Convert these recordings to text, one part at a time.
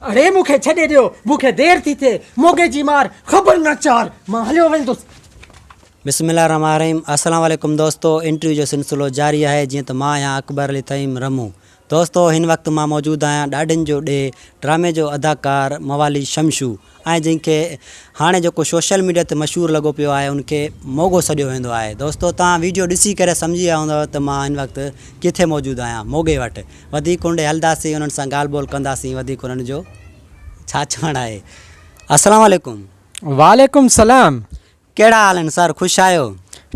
اڙي مون کي ڇڏي ڏيو، مون کي دير ٿي ٿئي، موڳي جي مار خبر نه چار، مان هليو ويندس. بسم الله الرحمٰن الرحيم السلام عليڪم دوستو انٽرويو جو سلسلو جاري آهي جيئن ته مان آهيان اڪبر علي طعيم رمون دوستو هن وقت مان موجود آهيان ڏاڍين جو ڏيهه ڊرامي جو اداڪار موالي شمشو ۽ جنهن کي هاڻي جيڪو سوشل ميڊيا تي مشهور لڳو پيو آهي ان کي موڳو سڏيو ويندو آهي دوستو توهان ويڊيو ڏسي ڪري سمجهي ويا هوندؤ ته مان هن وقت ڪٿي موجود آهيان موڳي وٽ وڌيڪ هن ڏي هلنداسين انهن سان ڳالهه ٻولهه ڪنداسين وڌيڪ انهن جو ڇا چوڻ آهي السلام عليڪم. وعليڪم السلام. ڪهڙا حال آهن سر خوش آهيو.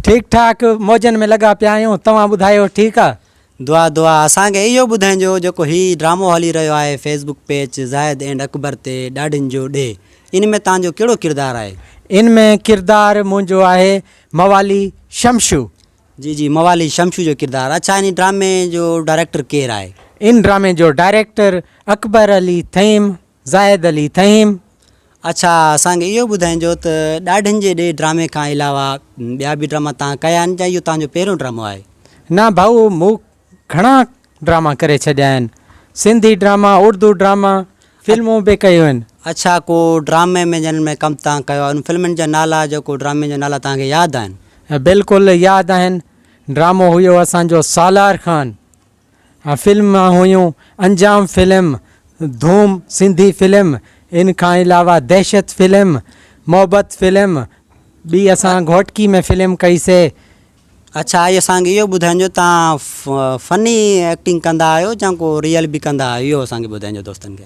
ٺيڪ ٺاڪ موجن ۾ لڳا پيا آهيون توهان ٻڌايو ٺيڪ آ. دعا دعا اسان کي اهو ٻڌائنجو جيڪو هي ڊرامو هلي رهيو آهي فيس بڪ پيچ زاهد اينڊ اڪبر تي ڏاڍين جو ڏيهه ان ۾ تهان جو ڪهڙو ڪردار آهي. ان ۾ ڪردار منهنجو آهي موالي شمشو. جي جي موالي شمشو جو ڪردار اڇا ان ڊرامي جو ڊائريڪٽر ڪير آهي. ان ڊرامي جو ڊائريڪٽر اڪبر علي ٿهيم زاهد علي ٿهيم. اڇا اسان کي اهو ٻڌائينجو ته ڏاڍين جي ڏي ڊرامي کان علاوه ٻيا به ڊراما تان ڪيا آهن يا اهو تان جو پهريون ڊرامو آهي. نه ڀائو مون گهڻا ڊراما ڪري ڇڏيا آهن. سنڌي ڊراما، اردو ڊراما، فلمون به ڪيون آهن. اڇا ڪو ڊرامي ۾ جنھن ۾ ڪم توھان ڪيو آھي انھن فلمن جا نالا جو ڪو ڊرامي جا نالا توھان کي ياد آھن. بلڪل ياد آھن ڊرامو ھيو اسان جو سالار خان فلم ھيون انجام فلم ڌوم سنڌي فلم ان کان علاوه دھشت فلم محبت فلم ٻي اسان گھوٽڪي ۾ فلم ڪئي سي. اڇا اھي اسان کي اھو ٻڌائين جو تھان فني ايڪٽنگ ڪندا آھيو جان ڪو ريئل به ڪندا آھيو اھو اسان کي ٻڌائين جو دوستن کي.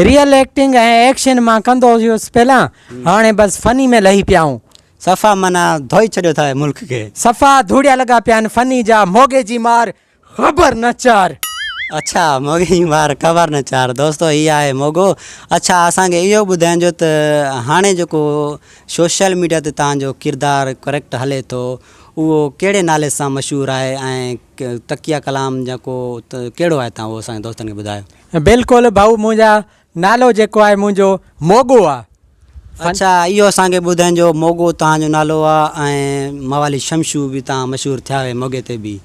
ريئل ايڪٽنگ ۽ ايڪشن مان ڪندو ھيس پھلان ھاڻي بس فني ۾ لھي پيا آھون. صفا معنيٰ ڌوئي ڇڏيو ٿا ملڪ کي. صفا ڌوڙيا لڳا پيا آھن فني جا موڳي جي مار خبر نه چار. اڇا موڳي جي مار خبر نه چار دوستو هي آهي موڳو اڇا اسان کي اهو ٻڌائنجو ته هاڻي جيڪو سوشل ميڊيا تي توهان جو ڪردار ڪريڪٽ هلي ٿو اهو ڪهڙي نالي سان مشهور آهي ۽ تقيه ڪلام جيڪو ته ڪهڙو آهي توهان اهو اسان جي دوستن کي ٻڌايو. بلڪل ڀائو منهنجا نالو جيڪو آهي منهنجو موڳو آ. اڇا اهو اسان کي ٻڌائين جو موڳو توهان جو نالو آ ۽ موالي شمشو به توهان مشهور ٿيا هيو موڳي تي به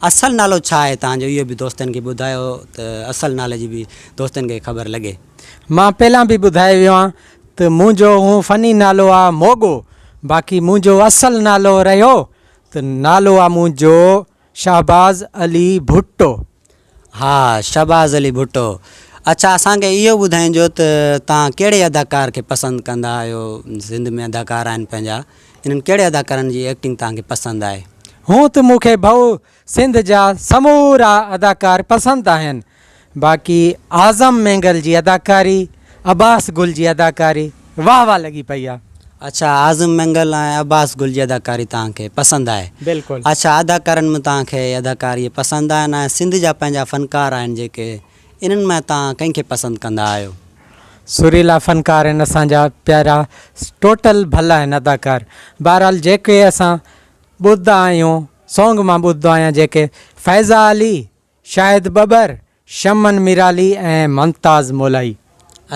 اصل نالو ڇا آهي توهان جو اهو به دوستن کي ٻڌايو ته اصل نالي جي به دوستن کي خبر لڳي. مان پهلان به ٻڌائي ويو آن ته منهنجو هونء فني نالو آ موڳو باقي منهنجو اصل نالو رهيو ته نالو آ منهنجو شهباز علي ڀٽو، ها شهباز علي ڀٽو اڇا اسان کي اهو ٻڌائين جو ته توهان ڪهڙي اداڪار کي پسند ڪندا آهيو سنڌ ۾ اداڪار آهن پنهنجا انهن ڪهڙي اداڪارن جي ايڪٽنگ توهان کي پسند آهي. هونء ته مون کي ڀئو سنڌ جا سمورا اداڪار پسند آهن باقي اعظم مينگل جي اداڪاري عباس گل جي اداڪاري واه واه لڳي پئي آ. اڇا اعظم مينگل ۽ عباس گل جي اداڪاري توهان کي پسند آهي بلڪل. اڇا اداڪارن مان توهان کي اداڪاري پسند آهن ۽ سنڌ جا پنهنجا فنڪار آهن جيڪي انهن مان توهان ڪنهن کي پسند ڪندا آهيو. سريلا فنڪار آهن اسان جا پيارا ٽوٽل ڀل آهن اداڪار بهرحال جيڪي اسان ٻڌدا آهيون سونگ مان ٻڌدو آهيان جيڪي فيضا علي شاهد ٻٻر، شمن ميرالي ۽ ممتاز مولائي.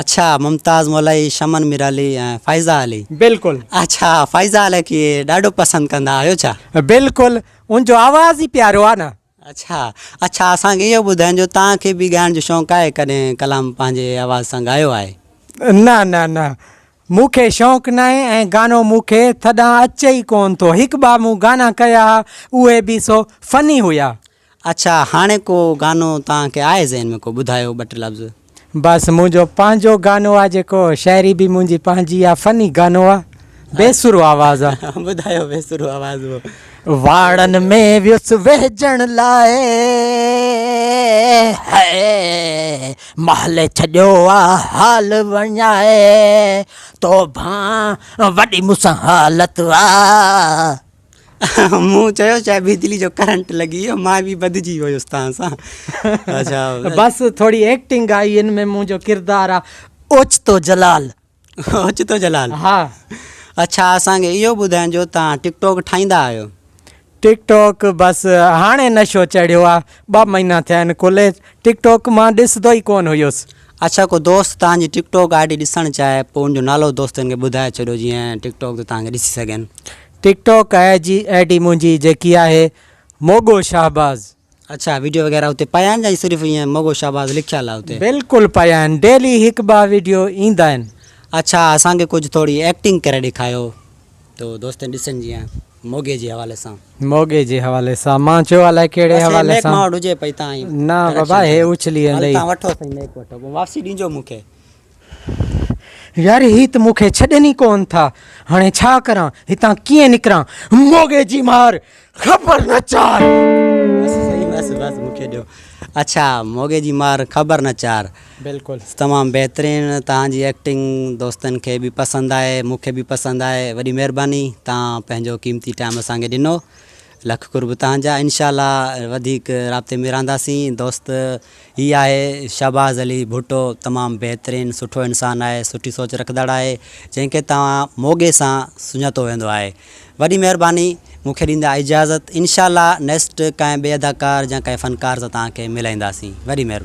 اڇا ممتاز مولائي، شمن ميرالي ۽ فائزه علي. بلڪل. اڇا فائزه علي کي ڏاڍو پسند ڪندا آهيو ڇا؟ بلڪل ان جو آواز ئي پيارو آ نه. اڇا اڇا اسان کي اهو ٻڌاين جو تان کي به ڳائڻ جو شونق آهي ڪڏهن ڪلام پنهنجي آواز سان ڳايو آهي؟ نه نه نه مون کي شونق ناهي ۽ گانو مون کي ٿڏان اچي ئي ڪون ٿو هڪ ٻه مون گانا ڪيا ها اهي به سو فني هيا. اڇا هاڻي ڪو گانو توهان کي آهي ذهن ۾ ڪو ٻڌايو ٻه ٽي لفظ. بس منهنجو پنهنجو گانو آ جيڪو شاعري به منهنجي پنهنجي آ فني گانو آ بي سرو آواز آ. ٻڌايو بي سرو آواز اهو. واڙن ۾ ويس ويهجڻ لاء هي محل ڇڏيو آ حال وڃائي توبهان وڏي مون سان حالت آ. مون چيو شايد بجلي جو ڪرنٽ لڳي ويو مان به ٻڌجي ويس توهان سان اچا بس ٿوري ايڪٽنگ آئي ان ۾ منهنجو ڪردار آ اوچتو جلال اوچتو جلال ها اچا اسان کي اهو ٻڌايو جو توهان ٽڪ ٽاڪ ٺاهيندا آهيو ٽڪ ٽاڪ بس هاڻي نشو چڙهيو آ ٻه مهينا ٿيا آهن کلي ٽڪ ٽاڪ مان ڏسندو ئي ڪون هيس اچا ڪو دوست توهان جي ٽڪ ٽاڪ آئي ڊي ڏسڻ چاهي پوء ان جو نالو دوستن کي ٻڌائي ڇڏيو جيئن ٽڪ ٽاڪ تي توهان کي ڏسي سگهن ٽڪ ٽوڪ آء جي آء ڊي منهنجي جيڪي آهي موڳو شهباز. اڇا ويڊيو وغيره اتي پيا آهن يا صرف ائين موڳو شهباز لکيل آهي اتي. بلڪل پيا آهن ڊيلي هڪ ٻه ويڊيو ايندا آهن. اڇا اسان کي ڪجھ ٿوري ايڪٽنگ ڪري ڏيکايو تو دوستن ڏسن جيئن موڳي جي حوالي سان. موڳي جي حوالي سان مان چيو الائي ڪهڙي بس هي حوالي ميڪ سان. ماوٽ هجي پئي تان ئي بس نا ڊريڪشن بابا هي ڏيڻي اڇلي هل ايندئي. تان وٺو سائين ميڪ وٺو پوء واپسي ڏينجو مون کي يار هي ته مون کي ڇڏين ئي ڪون ٿا. هاڻي ڇا ڪران؟ هتان ڪيئن نڪران؟ موڳي جي مار خبر نه چار. بس سائين بس بس مون کي ڏيو. اڇا موڳي جي مار خبر نه چار. بلڪل تمام بهترين توهان جي ايڪٽنگ دوستن کي به پسند آهي مون کي به پسند آهي وڏي مهرباني توهان پنهنجو قيمتي ٽائيم اسان کي ڏنو لک قرب توهان جا انشاء الله وڌيڪ رابطي ۾ رهنداسين دوست هي آهي شهباز علي ڀٽو تمام بهترين سٺو انسان آهي سٺي سوچ رکندڙ آهي جنهن کي توهان موڳي سان سڃاتو ويندو آهي وڏي مهرباني مون کي ڏيندا اجازت انشاء الله نيسٽ ڪنهن ٻئي اداڪار يا ڪنهن فنڪار سان توهان کي ملائينداسين وڏي مهرباني.